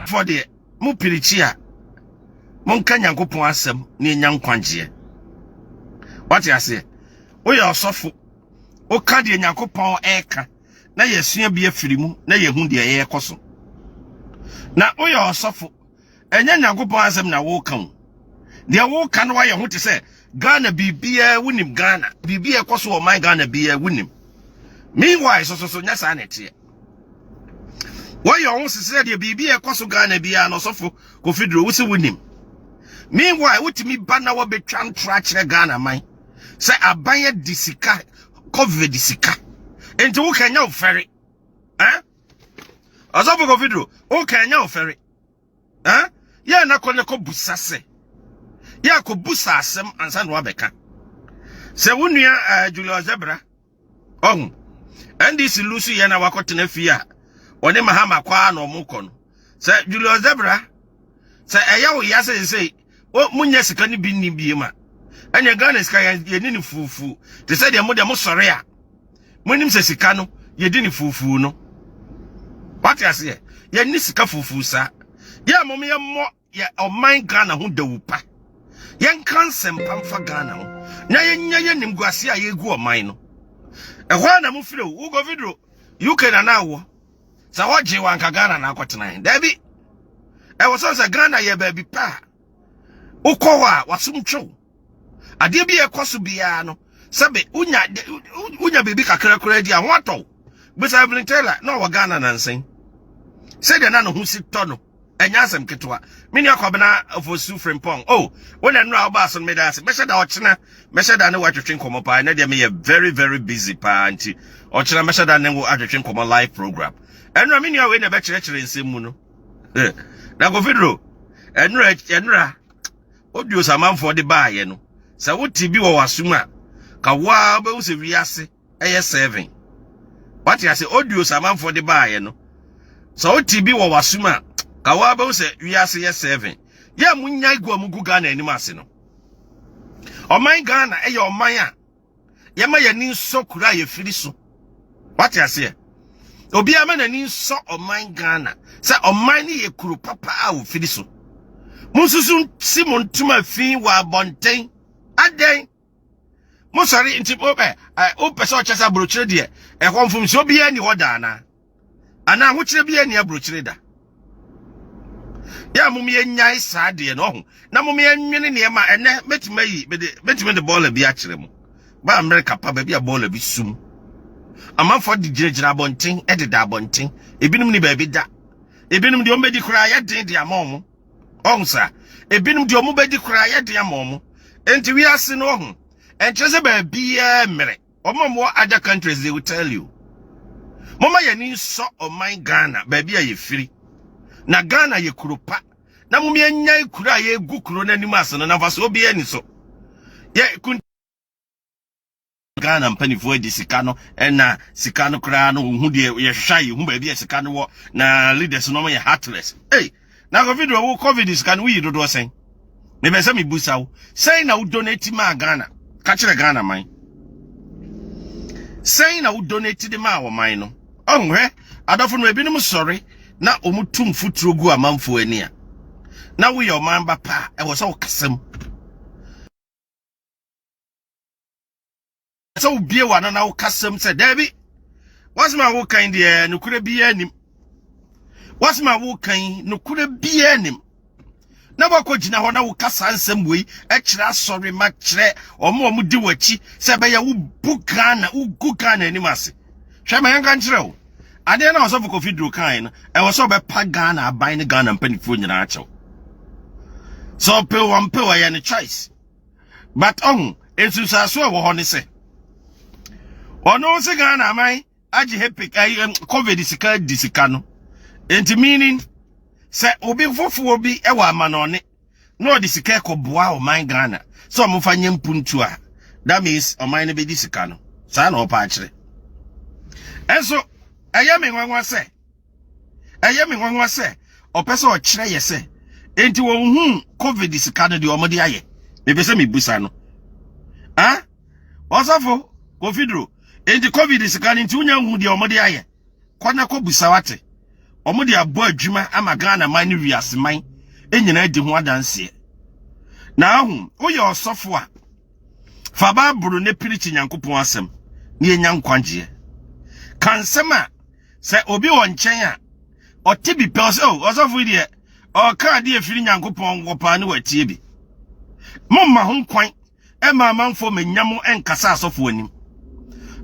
fɔ deɛ mo pirikyi a monka nyankopɔn asɛm ne ɛnya nkwagyeɛ wate aseɛ woyɛ ɔsɔfo woka deɛ nyankopɔn ɛka na yɛsua bi afiri mu na yɛhu deɛ yɛkɔ so na woyɛ ɔsɔfo Ɛnyɛ Nyankopɔn asɛm na woka o. Deɛ woka no wayɛ ho te sɛ Ghana biribiara wonim Ghana. Biribi a ɛkɔ so wɔ man Ghana biara wonim. Meanwhile so so so nyɛ saa na ɛteɛ. Wɔyɛ ɔho sesrɛ deɛ biribi a ɛkɔ so Ghana biara no ɔsɔfo Kofi Duro wo se wonim. Meanwhile wotumi ba na wɔbɛtwa ntora akyerɛ Ghana man sɛ aban adi sika covid sika. Enti woka nya ofɛre. Eh? Ɔsɔfo Kofi Duro woka nya ofɛre. Eh? Yeah, na kɔ na kɔ busa se. Yeah, kɔ busa asem ansa na wabɛka. Sɛ wo nua eh, Julius Zebra, ɔho. NDC lusu yɛ na wakɔtena fie a ɔne Mahama kɔ a na ɔmo kɔ no. Sɛ Julius Zebra, sɛ ɛyɛ wo ya sɛ sɛ o munya sika ne bi nni biem a ɛnyɛ Ghana sika yɛni ne fuufu te sɛ deɛ mo deɛ mosɔre a monim sɛ sika no yɛdi ne fuufu no wate aseɛ yɛni sika fuufu saa yɛ a mom yɛmmɔ yɛ ɔman Ghana ho dawu pa yɛnka nsɛmpa mfa Ghana ho na yɛnya yɛ nimguase a yɛgu ɔman no ɛhɔ a na mofiri wo govidro UK na na awɔ sɛ wɔgye wɔ anka ghana na akɔtena he daabi ɛwɔ sɛ sɛ ghana yɛ baabi pa a wokɔ hɔ a wasom twew adeɛ bi a ɛkɔ so biara no sɛbe wonya wonya biribi kakra koraa di a ho atɔ bisa Evelyn Taylor na ɔwɔ ghana nansen sɛdeɛ na ne ho si tɔ no ɛnyɛ asɛm ketewa me nua kɔbena ofosu frimpɔn o oh, wo na nnura wobaa so no meda ase mɛhyɛ da ɔkyena mɛhyɛ da ne wo atwetwe nkɔmmɔ paa ɛnɛ deɛ meyɛ very very busy paa nti ɔkyena mɛhyɛ da ne wo atwetwe nkɔmmɔ live program ɛnura me nua wei na ɛbɛkyerɛkyerɛ nsɛm mu no eh, na kofidro ɛnura ɛnura odio samanfoɔ de baayɛ no sɛ wote bi wɔ w'asom a ka woa wobɛhu sɛ wiase ɛyɛ seven wate ase audios amanfoɔ de baayɛ no sɛ wote bi wɔ w'asom a ka wo abɛhu sɛ wiase yɛ seven yɛ mo nya gu a mo gu ghana anim ase no ɔman ghana ɛyɛ ɔman a yɛma yɛni nsɔ kura a yɛfiri so wate aseɛ obiara ma n'ani nsɔ ɔman ghana sɛ ɔman no yɛ kuro papa a wɔfiri so monsusu si mo ntoma fi wɔ abɔnten adɛn mo sɔre nti mo bɛ ɛ o pɛ sɛ ɔkyɛ sɛ aburokyire deɛ ɛhɔ mfomso obiara ni hɔ daa na anaa ahokyerɛ biara ni aburokyire da yɛ a mo yɛ nyae saa deɛ na ɔho na mo yɛ nwene nneɛma ɛnɛ mɛtumi ayi mɛtumi de bɔɔla bi akyerɛ mo ba amerika pa baabi a bɔɔla bi sum amanfoɔ de gyinagyina abɔnten ɛdeda abɔnten ebinom ni baabi da ebinom deɛ ɔmbɛdi koraa yɛ den de ama ɔmo ɔho saa ebinom deɛ ɔmo bɛdi koraa yɛ den ama ɔmo nti wiase no ɔho ɛnkyerɛ sɛ baabiaa mmerɛ ɔmo ɔmo wɔ other countries they will tell you moma yɛni nsɔ ɔman Ghana baabi a yɛfiri na Ghana yɛ kuro pa na mom yɛnyan kuro a yɛgu kuro no anim ase no na mfa so obiaa ni so yɛ Ghana mpanimfoɔ agye sika no na sika no koraa no wohu deɛ yɛhwehwɛ a yɛhu baabi a sika no wɔ na leaders no yɛ heartless ei na kofi do wo covid sika no woyi dodoɔ sɛn mebɛ sɛ mebusa wo sɛn na wo donate maa Ghana ka kyerɛ Ghana man sɛn na wo donate de maa ɔman no ɔho hwɛ adɔfo no ebinom sɔre na wɔn tum futuro gu amanfoɔ ani a na woyɛ ɔman ba paa ɛwɔ sɛ ɔkasam sɛ wobie w'ano na wokasam sɛ daabi wasɛm a wokan deɛ nokorɛ biara nim wasɛm a wokan nokorɛ biara nim na wakɔ gyina hɔ na woka saa nsɛm wei kyerɛ asɔre ma kyerɛ ɔmo ɔmo di w'akyi sɛ bɛyɛ wo bu ghana wo gu ghana anim ase hwɛ ma yɛnka nkyerɛ wo adeɛ na ɔsɔfo kofi duro kan no ɛwɔ sɛ ɔbɛpa ghana aban ne ghana mpanimfoɔ nyinaa akyɛw sɛ ɔpɛ wɔn pɛ wɔyɛ ne choice but ɔho nsunsuaso a ɛwɔ hɔ ne sɛ ɔno sɛ ghana aman agye hepic covid sika di sika no nti meaning sɛ obi fofoɔ bi wɔ amanɔne na ɔde sika kɔboa ɔman ghana sɛ ɔmofa nyɛ mpuntu a that means ɔman no bɛdi sika no saa na ɔpa akyerɛ ɛnso ɛyɛ me nwanwa sɛ ɛyɛ me nwanwa sɛ ɔpɛ sɛ ɔkyerɛ yɛ sɛ enti wɔn hu covid sika no deɛ wɔde ayɛ mepɛ sɛ mebusa no ah ɔsɔfo kofidro enti covid sika no nti wonya hu deɛ wɔde ayɛ kɔ na kɔ busa wate wɔde abɔ adwuma ama ghana man ne wiase man nyinaa di ho adanseɛ na ahu woyɛ ɔsɔfo a Fa Bible no pirikyi Nyankopɔn asɛm na yɛnya nkwagyeɛ. Ka nsɛm a sɛ obi wɔ nkyɛn a ɔte bi pɛ sɛ ɔsɔfo yi deɛ ɔka adeɛ firi Nyankopɔn wɔ paa ne watie bi. Momma ho kwan ɛma amanfoɔ manya mo nkasa asɔfo anim.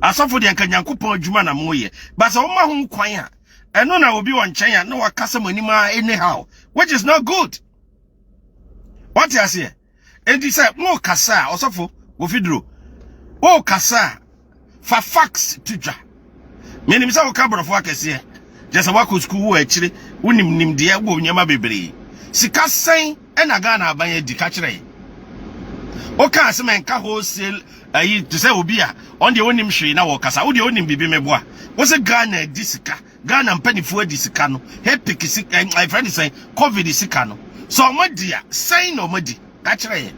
Asɔfo deɛ nka Nyankopɔn adwuma na moyɛ. Ba sɛ woma ho kwan a ɛno na obi wɔ nkyɛn a na wakasa mo anim a anyhow which is not good. Wate aseɛ? Enti sɛ worekasa a, ɔsɔfo Wofiduro, worekasa a, fa facts to dwa. Menim sɛ woka borɔfo akɛseɛ, kyɛ sɛ woakɔ sukuu wɔ akyire, wonim nimdeɛ wɔ nneɛma bebree. Sika sɛn na Ghana aban adi ka kyerɛ yɛn? Wokaa sɛ menka wholesale ayi te sɛ obi a ɔno deɛ ɔnim hwee na wɔkasa, wo deɛ wonim biribi meboa. Wo sɛ Ghana adi sika. Ghana mpaninfoɔ adi sika no hepic si eh, ɛfrɛ ne sɛn covid sika no sɛ wɔn adi a sɛn na wɔn adi ka kyerɛ yɛ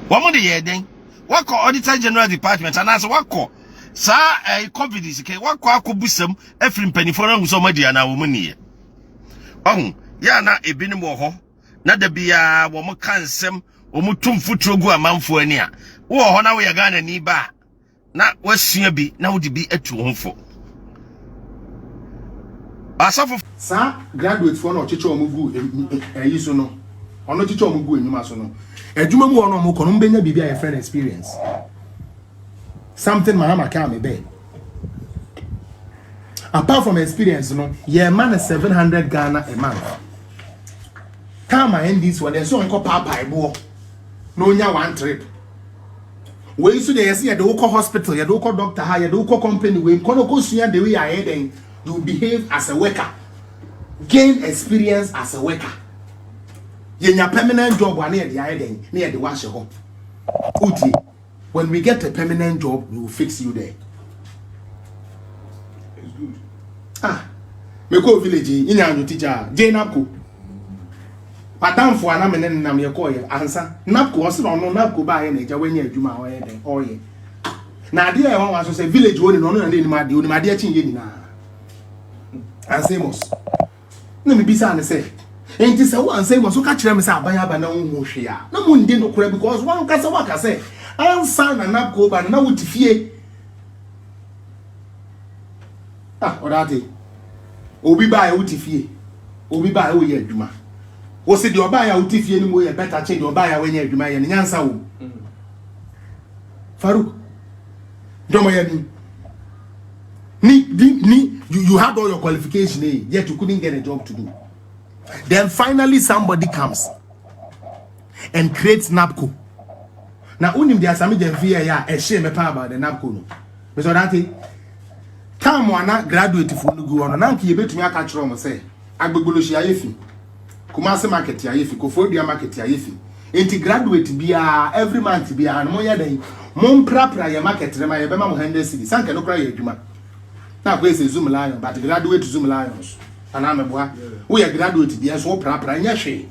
wɔn de yɛ dɛn wakɔ auditor general department anaasɛ wakɔ saa eh, covid sika wakɔ akɔ busam afiri mpaninfoɔ no ahu sɛ wɔn adi anaa wɔn ni yɛ ɔho yɛ ana ebinom wɔ hɔ na da biara wɔn ka nsɛm wɔn tum futuro gu amanfoɔ ani a wowɔ hɔ na woyɛ Ghana ni ba a na woasua bi na wode bi atu wo ho fo. Asɔfo. Saa graduate foɔ no ɔkyekyɛ wɔn gu ɛyi so no ɔno kyekyɛ wɔn gu enyuma so no adwuma mu wɔn a wɔn kɔ no wɔn bɛnya biribi a yɛfrɛ no experience something mahama kaa me bɛɛ apart from experience no yɛ ma no seven hundred ghana a month kaa ma ndc wɔn yɛ so nkɔ paapae boɔ na onya one trip. Wei nso deɛ yɛsɛ yɛde wokɔ hospital, yɛde wokɔ doctor ha, yɛde wokɔ company wei, kɔ no kɔsua the way a ɛyɛ dɛn, you behave as a worker, gain experience as a worker. Yɛnya permanent job a na yɛde ayɛ dɛn, na yɛde wahyɛ hɔ. Uti, when we get a permanent job, we will fix you there. It's good. Ah, me go village, inya anyo teacher, Jane Apko. Madamfo a na me ne no nam yɛkɔɔ yɛ ansa napco ɔse na ɔno napco baayɛ na agya wanya adwuma a ɔyɛ dɛn ɔyɛ na adeɛ a ɛwa wa nso sɛ village hɔ ne no ɔno na n'anim adeɛ onim adeɛ kyen yɛ nyinaa ansemos na mebisa ne sɛ nti sɛ wo ansemos woka kyerɛ me sɛ aban aba na wonhu hwee a na mo ndi nokora because wankasa waka sɛ ansa na napco ba no na wote fie Ah, ɔda ate. Obi baa yɛ wote fie. Obi baa yɛ woyɛ adwuma. Wose deɛ ɔbaa yɛ a wote fie no mu yɛ bɛta kyen deɛ ɔbaa yɛ a wɔnyɛ adwuma yɛ no nyansa wom. Farouk, dɔmɔ yɛ ni. Ni, ni, ni, you, you had all your qualification, eh, yet you couldn't get a job to do. Then finally somebody comes. and create NABCO. Na wonim deɛ Asame Gyamfi yɛɛyɛ a ɛhyee me paa about the NABCO no. Mesɛ ɔdante, tam a na graduatefoɔ no gu hɔ no, na anka yɛbɛtumi aka kyerɛ wɔn sɛ Agbogbolohyi ayɛ fi, Kumasi market ayɛ fi, Koforidua market ayɛ fi. Enti graduate biara, every month biara no, monyɛ dɛn, momprapra yɛn market no ma yɛbɛma mo 100 cedis. Anka ɛno koraa yɛ adwuma. Na akɔyɛ sɛ Zoom Lion, but graduate Zoom Lions. Anaa meboa? Woyɛ graduate deɛ nso woprapra, ɛnyɛ hwee.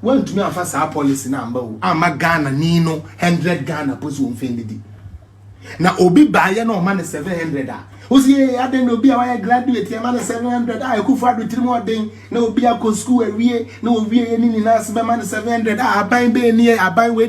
wantumi amfa saa policy no amma o amma ghana ni no 100 ghana po so wɔmfa nnidi na obi baayɛ na ɔma no 700 a wosi yɛ adɛn na obi a wayɛ graduate ɛma no 700 a ɛkufo ado tirim ɔden na obi akɔ sukuu awie na owie yɛ ne nyinaa se bɛma no 700 a aban bɛɛ ni aban wei